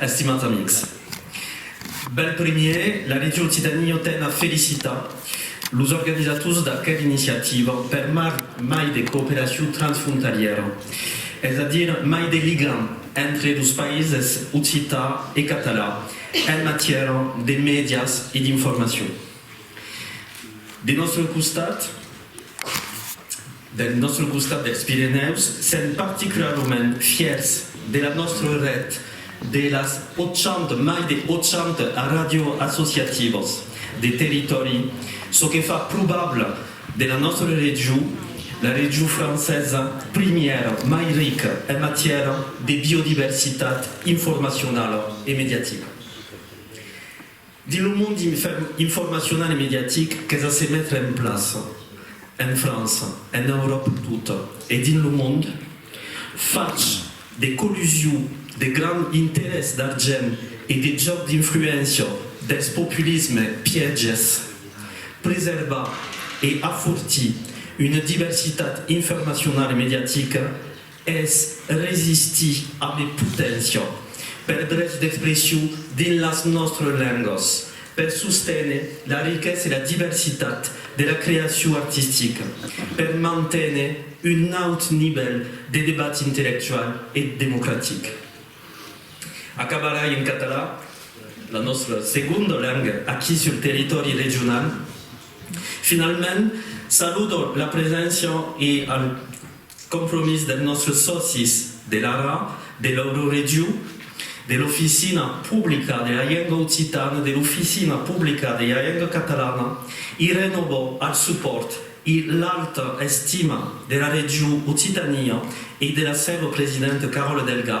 Estimats amics, bèl primièr, la Region Occitania ten a felicitar los organizators d'aquela iniciativa per mar mai de cooperacion transfrontalièra, es a dire mai de ligam entre los païses occitan e catalan en matièra de mèdias e d'informacion. Del nòstre costat, del nòstre costat dels Pirenèus, sèm particularament fièrs de la nòstre ret de las 80, mai de 80 ràdio associativas de territòri, çò que fa probable de la nòstre region la region francesa primièra mai rica en matièra de biodiversitat informacionala e mediatica. Dins lo mond informacional e mediatic qu'es a se metre en plaça, en França, en Euròpa tota e dins lo mond, fach de collusiu de grand interès d'argent e de jòc d'influéncia dels populismes pièges, preservar e afortir una diversitat informacional e mediatica Es resistir a de poténcia per drets d'expression dins las nòstres lengas, per sosténer la riquesa e la diversitat de la creacion artistica, per manténer un naut nivèl de debat intellectual e democratic. Acabarai en català, la nòstra segonda lenga aquí sul territòri regional. Finalment, saludo la preséncia e al. Compromís dels nòstres sòcis de l'ARA, de l'Euroregiu, de l'Oficina Publica de la Lenga Occitana, de l'Oficina Publica de la Lenga Catalana, i renòvo al supòrt e l'alta estima de la Region Occitània e de la sèva presidenta Caròla Delga,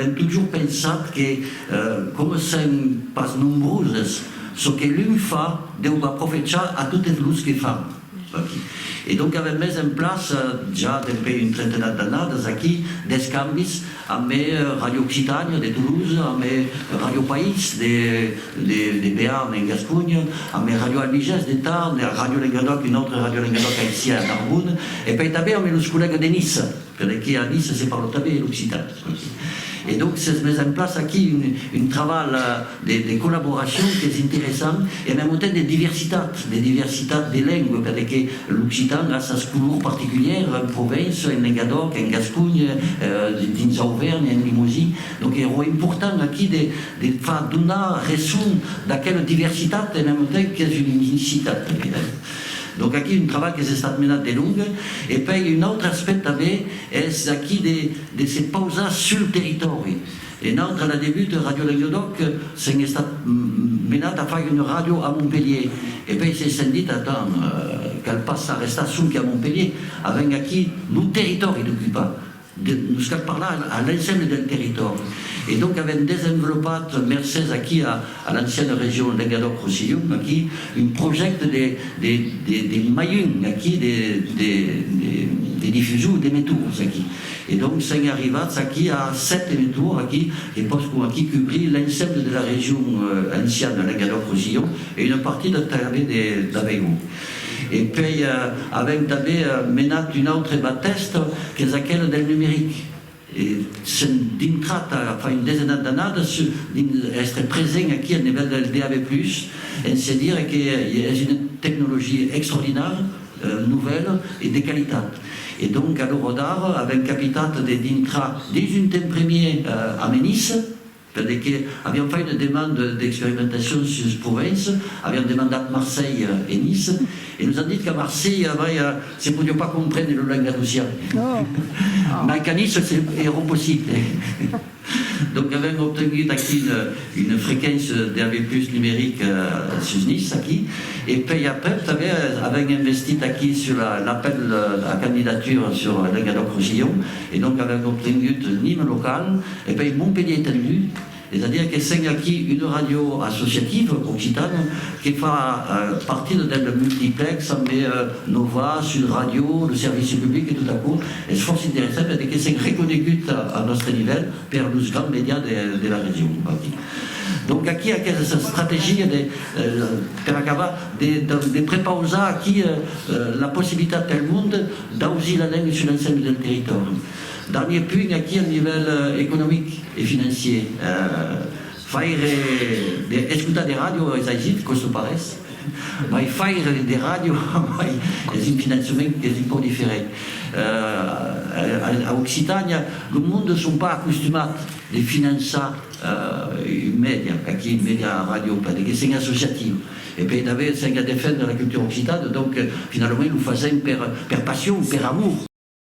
Avèm totjorn pensat que, coma sèm pas nombroses, çò que l'un fa deu b'aprofechar a totes los que fan aquí. E donc avèm mes en plaça, ja dempè un trentenat d'annadas aquí, d'escambis ambe Ràdio Occitània de Toulouse, ambe Ràdio País de Bearn en Gasconha, ambe Ràdio Albigés de Tarn, Ràdio Lengadòc, un autre Ràdio Lengadòc aicí a Narbona, e pèitabèr ambe los collègues de Niça. Per aquí a Nice se parle tanben er occitan. E donc s'es mes en plaça aquí un travalh de collaboracion qu'es interessant e mèm autemps de diversitat, de diversitat de lengue, per que l'occitan a sas colors particulières en Provence, en Lengadòc, en Gasconha, dins Auvernha, en Limousin. Donc èro important aquí de far donar reson d'aquela diversitat e mèm autemps qu'es una unicitat tanben. Donc aquí un trabalh qu'es estat menat de long e pei un autre aspect tanben es aquí de de se pausar sul territòri e nautre a la debut Radio Lenguedoc s'en estat menat a fai una radio a Montpelhier e pei se s'en dit atant cal pas arrestar sonque a Montpelhier avèm aquí lo territòri d'ocupar Nos cal parlar a l'ensemble del territòri. E donc avèm desenvolopat, mercés aquí a l'anciana region Lengadòc-Rossillon, aquí, un projècte de mailhon, aquí, de difusor d'emetours, aquí. E donc sèm arrivats aquí a sèt emetours, aquí, que pòscon aquí cubrir l'ensemble de la region anciana Lengadòc-Rossillon e una partida tanben d'Aveyron. E puèi avèm tanben menat un autre batèsta qu'es aquela del numeric. E s'èm dintrat ara fa un desenat d'annadas dins èstre present aquí a nivèl del DAB+, en se dire que es una tecnologia extraordinària, novèla e de qualitat. E donc a l'ora d'ara avèm capitat de dintrar dins un temps premier a Menissa, Tandé que avián fait una demande d'experimentacion sus Provence, avián demandat Marselha e Nice, e nos an dit qu'a Marselha, vai, se podiá pas comprendre lo langat ocean, mai qu'a Nice se èra possible. Donc avèm obtengut aquí una frequéncia DAB+ numérique sus Nice, aquí, e pei aprèp tanben avèm investit aquí sus l'apèl a candidatura sus Languedoc-Rossillon, e donc avèm obtengut nim locale, E pei Montpelhier ten lu, es a dire que sèn aquí una ràdio associativa occitana que fa partida del multiplex amb Nova, Sud Radio, lo servici public e tot aquò es fòrça interessant a de que sèn reconegut al nòstre nivèl per los grands medias de la region aquí. Donc aquí aquesa estrategia de, per acabar, de prepausar aquí la possibilitat pel monde d'ausir la lenga sus l'ensèmi del territòri. Darnier punt aquí al nivèl economic e financier. Faire de escotar de ràdio es agit, quò çò parés, mai faire de ràdio amai es un finançament qu'es un pauc diferent. A Occitània, lo monde son pas acostumat de finançar un mèdia, aquí un mèdia a ràdio, perque que sèn associatiu e per davair sèn a defendre la cultura occitana, donc finalament lo fasèm per passion, per amor.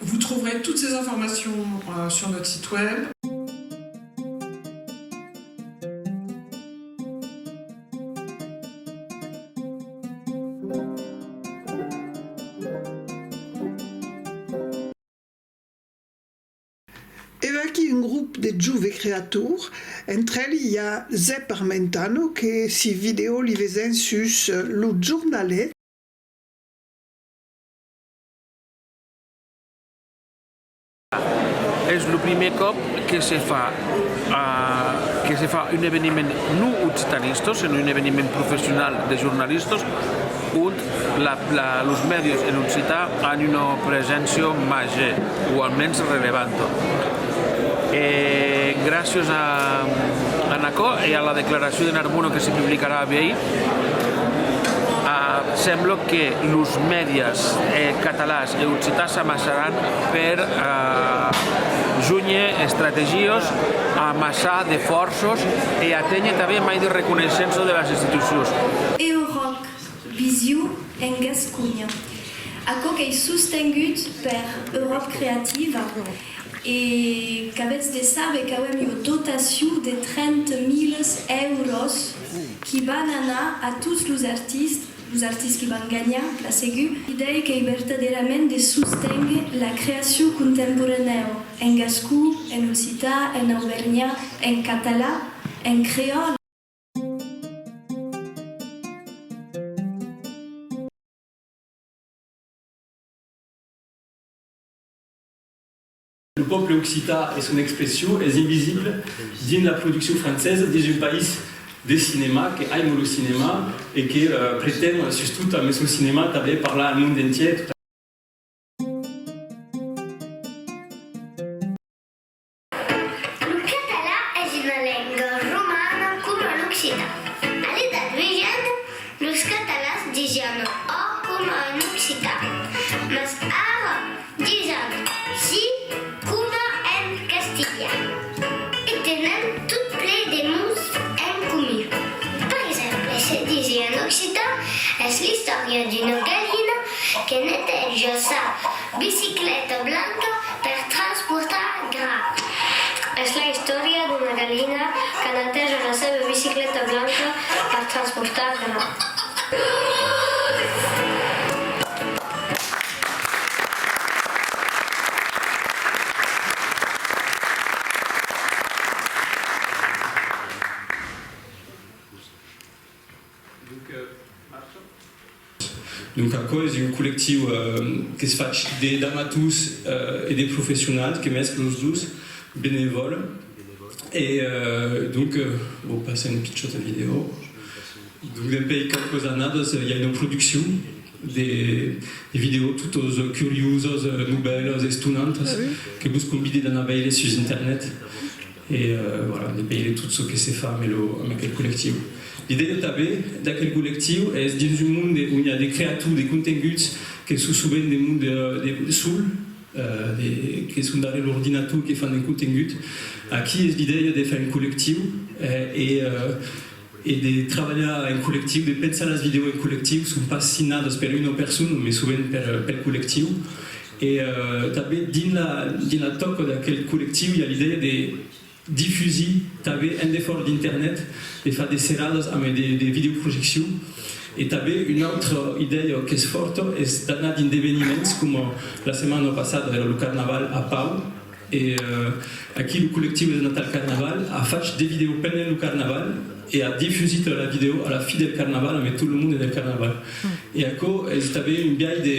Vous trouverez toutes ces informations sur notre site web. E vaquí un grop de jove creator, entre elhi i a Zep Armentano que si vidèo li vesèn sus lo jornalet. Es lo primièr còp que se fa que se fa un eveniment non occitanista, senon un eveniment professional de jornalistas ont los mèdias en occitan an una preséncia màger o almens relevanta. E gràcias a aquò e a la declaracion de Narbona que se publicarà a Vièlh, Sembla que los mèdias catalans e occitans s'amassaràn per jónher estrategies, amassar de fòrças e aténher tanben mai de reconeissença de las institucions. Eurovision en Gasconha. Aquò qu'ei sostengut per Euròp Creativa, E qu'avètz de saber qu'auem ua dotacion de 30 miles èuros qui van anar a tots los artistes, los artistes qui van ganhar, plan segur. L'idèia qu'ei vertadèrament de sosténguer la creacion contemporanèu en gascon, en occitan, en auvergnat, en catalan, en creòl. Lo pòble occità e son expression es invisible dins la produccion francesa dins un país de cinèma que aimo lo cinèma e que pretend sustot ambe son cinèma tanben parlar al mond entièr. Lo catalan es una lenga romana coma l'occitan. A l'Edat Mejana, los catalans disián ò coma en occitan, mas ara disan si coma en castilhan e tenen tot ple de mots en comun. Per exemple, se disir en occitan es l'istòria d'una galina que neteja sa Bicicleta blanca per transportar gra. Es la istòria d'una galina qu'a netejar la seva bicicleta blanca per transportar gra. Donc aquò es un collectiu qu'es fach d'amators e de professionals que mès los dos benevòl e donc vau passar una pichòta vidèo donc dempèi quauques annadas i a una produccion de vidèo totas curiosas, nobèlas, estonantas que vos convide d'anar veire sus internet. E voilà, de veire tot çò que se fa amb aquel collectiu. L'idèia tanben d'aquel collectiu es dins un monde ont i a de creator de contenguts que son sovent de monde sol, que son darrèr l'ordinator, que fan de contengut. Aquí es l'idèia de far un collectiu e. e de trabalhar en collectiu, de pensar las vidèos en collectiu, son pas signadas per una persona mai sovent pel collectiu e tanben dins la tòca d'aquel collectiu i a l'idèia de difusir tanben en defòra d'internet, de far de serradas amb de videoprojeccion e tanben una autra idèia qu'es fòrta es d'anar dins d'eveniments coma la setmana passada èra lo carnaval a Pau, E aquí lo collectiu de Natal Carnaval a fach de vidèo pendent lo Carnaval e a difusit la vidèo a la fi del Carnaval ambe tot lo monde del Carnaval. E aquò es tanben un biais de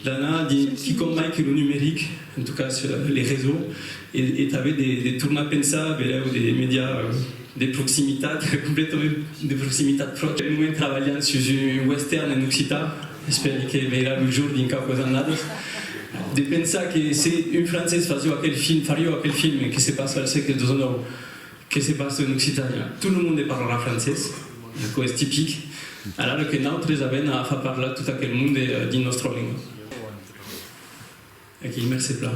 d'anar dins quicòm mai que lo numeric, en tot cas les réseaux, e tanben de tornar pensar velèu de medias de proximitat, completament de proximitat. Pel moment trabalhan sus un western en occitan. Espèri que veirà lo jour dins quauquas annadas. De pensar que se un francés fasió aquel film, farió aquel film que se passa al sègle xix, que se passa en Occitània, tot lo monde parlarà francés, aquò es tipic, alara que nautres avèn a far parlar tot aquel monde dins nòstra lenga. Aquí i mercé plan.